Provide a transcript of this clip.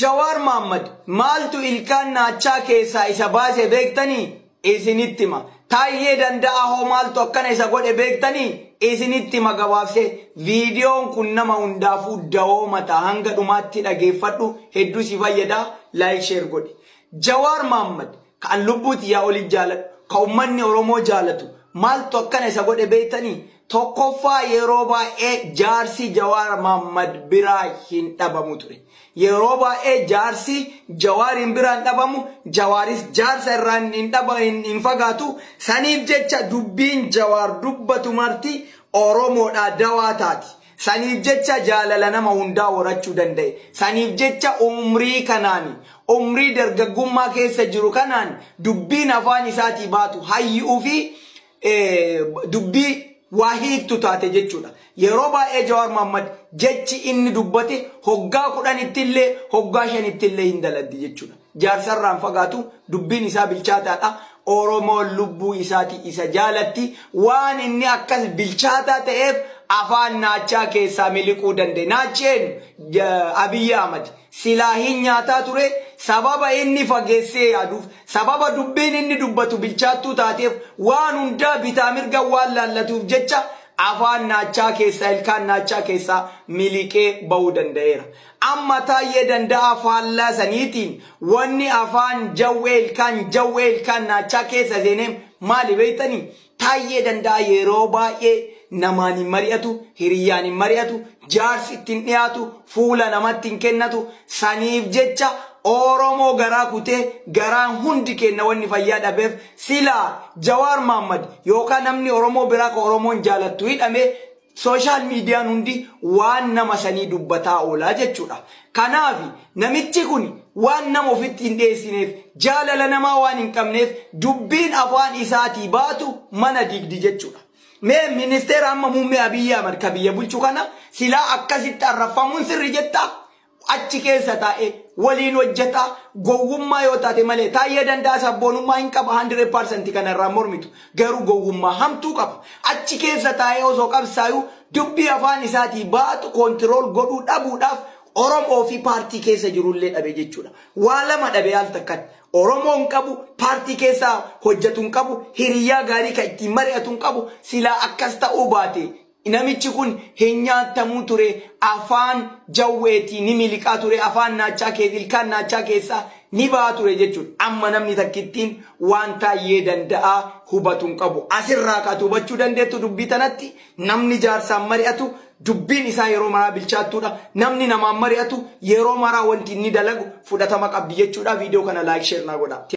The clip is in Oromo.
Jawaar Mahaammad maaltu ilkaan naachaa keessaa isa baase beektanii? Isinitti hima. Taayyee Danda'aa hoo maaltu akkana isa godhe beektanii? Isinitti hima gabaabsee. Viidiyoon kun nama hundaafuu dawoo mataa hanga dhumaatti dhageeffadhu hedduu si fayyada like share godhi. Jawaar Mahaammad Ka an lubbuu tiyyaa oliif jaaladhu, ka ummanni Oromoo jaalatu maaltu akkana isa godhe beektanii? Tokkoffaa yeroo baay'ee jaarsi Jawaar Mahaammad biraa hin dhabamu ture. Yeroo baay'ee jaarsi Jawaar hin biraa hin dhabamu, Jawaaris jaarsa irraa hin- hin dhaba- hin- hin fagaatu. Saniif jecha dubbiin Jawaar dubbatu marti Oromoodhaa dawaa taati. Saniif jecha jaalala nama hundaa horachuu danda'e. Saniif jecha umrii kanaan, umrii dargaggummaa keessa jiru kanaan dubbiin afaan isaatii baatu hayyu'uu fi dubbii waa hiiktu taate jechuudha. Yeroo baay'ee Jawaar Mahaammad jechi inni dubbate hoggaa kudhanittillee hoggaa shanittillee hin daladdi jechuudha. Jaarsarraa hin fagaatu, dubbiin isaa bilchaataadha. Oromoon lubbuu isaatii isa jaalatti. Waan inni akkas bilchaataa ta'eef afaan naachaa keessaa miliquu danda'e. Naachi eenyu? Abiy Ahmad. Silaa hin nyaataa ture, sababa inni fageessee yaaduuf, sababa dubbiin inni dubbatu bilchaattuu taateef, waan hundaa bitaa mirga waan laallatuuf jecha afaan naachaa keessaa, ilkaan naachaa keessaa miliqee ba'uu danda'eera. Amma Taayyee Danda'aa faallaa saniitiin wanni afaan jawwee ilkaan jawwee ilkaan naachaa keessa seenee maali beektanii? Taayyee Danda'aa yeroo baay'ee namaan hin mari'atu, hiriyyaan hin mari'atu, jaarsi itti hin dhiyaatu, fuula namatti hin kennatu, saniif jecha Oromoo garaa kutee garaan hundi keenna wanni fayyaa dhabeef silaa Jawaar Mahaammad yookaan namni Oromoo biraa ka Oromoon jaalattu hidhamee Social median hundi waan nama sanii dubbataa oolaa jechuudha. Kanaafi namichi kuni waan nama ofitti hin dheessineef jaalala namaa waan hin qabneef dubbiin afaan isaatii baatu mana diigdi jechuudha. Mee ministeera amma muummee Abiy Ahmad ka biyya bulchu kana silaa akkasitti arrabfamuun sirri jettaa? achi keessa taa'ee waliin hojjetaa gowwummaa yoo taate malee taayyee danda'a sabboonummaa hin qaba 100% kanarraa mormitu garuu gowwummaa hamtuu qaba achi keessa taa'ee osoo qabsaayuu dubbii afaan isaatii baatu koontirool godhuu dhabuudhaaf Oromoo fi paartii keessa jirullee dhabe jechuudha. Waa lama dhabe al takkatti. Oromoo hin qabu, paartii keessaa hojjetu hin qabu, hiriyyaa gaarii kan ittiin mari'atu hin qabu, silaa akkas ta'uu baate Namichi kun hin nyaattamu ture, afaan jawweetii ni miliqaa ture, afaan naachaa keessa, ilkaan naachaa keessaa ni baha ture jechuudha. Amma namni takkittiin waan Taayyee Danda'aa hubatu hin qabu. Asirraa ka ati hubachuu dandeettu dubbii tanatti namni jaarsaan mari'atu dubbiin isaa yeroo maraa bilchaattuudha. Namni namaan mari'atu yeroo maraa wanti inni dalagu fudhatama qabdi jechuudha. Viidiyoo kana like share naa godhaa.